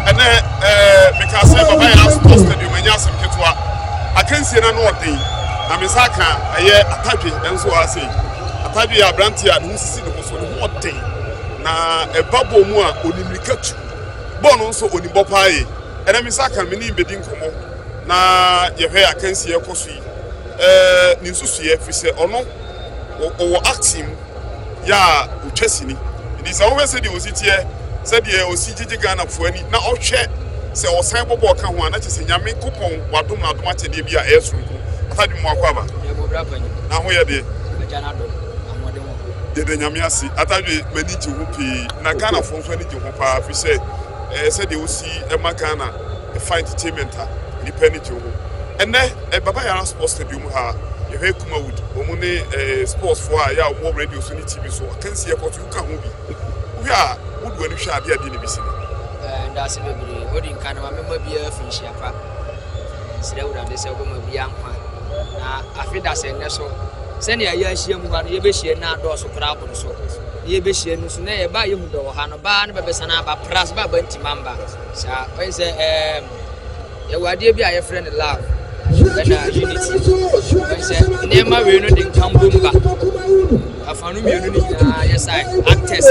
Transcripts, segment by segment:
ɛnɛ ɛɛ meka sɛ baba yɛ asopɔ stadium ɛnyɛ asɛm ketewa akansie na no ɔden na me nsa ka ɛyɛ atadwe ɛnso wɔ ase atadwe yɛ aberante a ne ho sisi ne ho so ne ho ɔden na ɛba bɔɔl mu a ɔnim mirika tu bɔɔl no nso ɔnim bɔ paa yɛ ɛnɛ me nsa ka me ne bɛdi nkɔmmɔ na yɛhwɛ akansie ɛkɔ so yi ɛɛ ne nsusuiɛ firi sɛ ɔno ɔwɔ acting mu yɛ a otwa sini. Enti sɛ wohwɛ sɛdeɛ osi teɛ, sɛdeɛ osi gyegye Ghanafoɔ ani, na ɔhwɛ sɛ ɔsan bɔ bɔɔl ka ho a, na kyerɛ sɛ Nyame kopɔn wadom no adom akyɛdeɛ bi a ɛyɛ soronko. Papa Adwuma mo akɔ aba. Na ho yɛ deɛ. Yɛda Nyame ase. Atadwe m'ani gye ho pii. Na Ghanafoɔ nso ani gye ho paa firi sɛ eh, sɛdeɛ osi ma Ghana ɛfa entertainment a, nnipa ani gye ho. Ɛnɛ eh, Baba Yara Sports Stadium ha yɛhwɛ Kumawood, wɔn ne eh, sportsfoɔ a ɛyɛ a wɔwɔ radio so ne TV so akansi ɛkɔ so woka ho bi wohwɛ a wode w'ani hwɛ adeɛ adeɛ na ɛbɛsi no eh, ndaase bebree odi nka no ma mema biara fi nhyia pa eh, serɛ awurade sɛ wobɛma biara nkwa na afe da sɛ nnɛ so sɛnea yɛahyia mu ha no yɛbɛhyia no adɔɔso koraa aboro so na yɛbɛhyia no so na yɛba a yɛhu dɔ wɔ ha no baa no bɛbɛsan aba pras ba ba ntima mba saa ɔyɛ sɛ Yɛwɔ adeɛ bi a yɛfrɛ no love ɛna unity. Wɔn sɛ nneɛma wei no de nkambom ba. Afa no mmienu no nyinaa yɛ sae. Actors,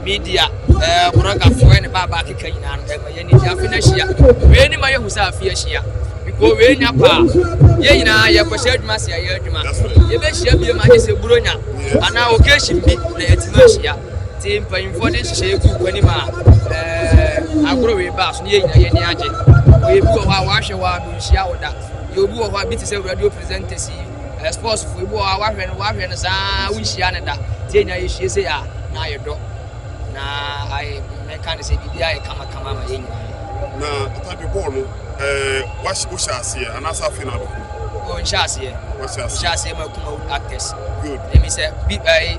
media, ɛɛ brɔgafoɔ ɛne baabaa keka nyinaa no ɛma yɛn ani afe no ahyia. Wei ne ma yɛhu sɛ afe ahyia. Biko wei nya paa. Yɛn nyinaa yɛkɔhyɛ adwuma ase a yɛn adwuma. Yɛbɛhyia bie ma agye sɛ buronya anaa occasion bi na yɛatumi ahyia. Tse mpanyimfoɔ ne nhyehyɛɛ gu wɔ anim a eh, agoro reba so ne yɛn nyinaa yɛn ani agye. Oye bi wɔ hɔ a wahwɛ wɔ ano nhyia wo da. Yɛ obi wɔ hɔ a bi te sɛ radio presenters yi, eh, sports fo, ebi wɔ hɔ a wahwɛ no wahwɛ no saa wo nhyia no da. Tse nyinaa yɛhyia sɛ a na ayɛ dɔ. Na ayɛ mɛka ne sɛ biribi ayɛ kama kama ama yɛn nyinaa. Na atade bɔɔl no, eh, wahyɛ wohyɛ aseɛ anaasɛ afei na abɛkɔ? Ɔnhyɛ aseɛ. Wahyɛ aseɛ. Ɔhyɛ aseɛ ma kuma actors. Good. Ɛmi sɛ bi ɛɛ.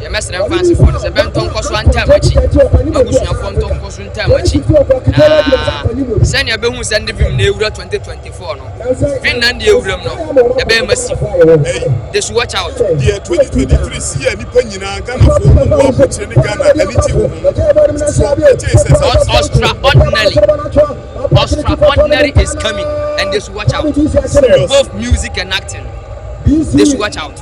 Yɛmmɛsrɛ mfansefoɔ no sɛ bɛntɔ nkɔ so antam akyi, m'abusuafoɔ ntɔ nkɔ so ntam akyi, na sɛnea bɛhu sɛ nde vim na ɛwura 2024 no, vin na nde ɛwuram no, ɛbɛyɛ massive. Ɛyi, they should watch out. Deɛ 2023 si yɛ nnipa nyinaa, Ghanafoɔ, mo mmoa abokyire ne Ghana ani gye wo ho. So yɛgyee sɛ saa nso. Ostraordinary, Ostraordinary is coming and they should watch out. Serious. Both music and acting, they should watch out.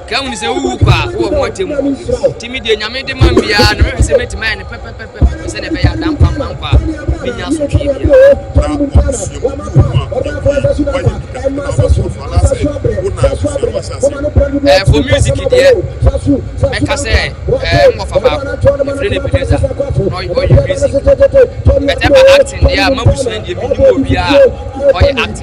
Ka hunu sɛ wowu kɔ a, wowɔ ho atemmu. Nti me deɛ, Nyame de ma me biara no, mɛhwɛ sɛ mɛtumi ayɛ no pɛpɛpɛpɛpɛ sɛdeɛ ɛbɛyɛ a da mpampa nkwa a, mennya asotwee biara. Ɛɛ, for music deɛ, mɛka sɛ ɛɛ nwɔfa baako, yɛfrɛ no Ebenezer, na ɔyɛ ɔyɛ music. But ɛba acting deɛ a, m'abusua deɛ, mennim obiara a ɔyɛ acting.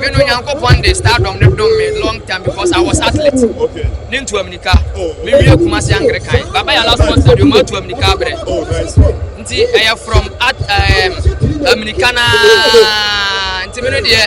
Me no Nyankopɔn de stardom no dom me long time because I was athlete. Okay. Ne ntu aminika. Oh, me wie kuma se angre kan. Baba ya last month stadium atu aminika abre. Oh, nice. Nti ɛyɛ from at um, aminika na nti me no deɛ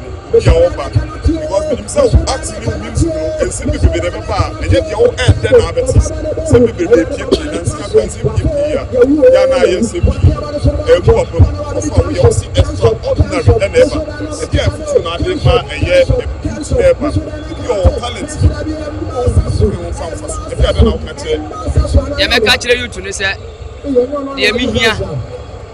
deɛ wo ba because menim sɛ wo ate ne wo mim si no nsɛm bebrebe na ɛbɛba a ɛnyɛ deɛ wo ɛɛdɛ na abɛte nsɛm bebrebe pie pie na nsɛm akora nsɛm pie pie ya ya na ayɛ nsɛm pie ɛmu wɔ pam ɔfa wo yɛ wo si extra ordinary ɛna ɛba ɛde a ɛfutuo na ade ma ɛyɛ ɛbutu na ɛba ebi wɔ wɔ talent bi wɔ wo hu so ne wo mfa mfa so ɛde ade na woka kyerɛ deɛ mɛka kyerɛ yutu no sɛ deɛ mehia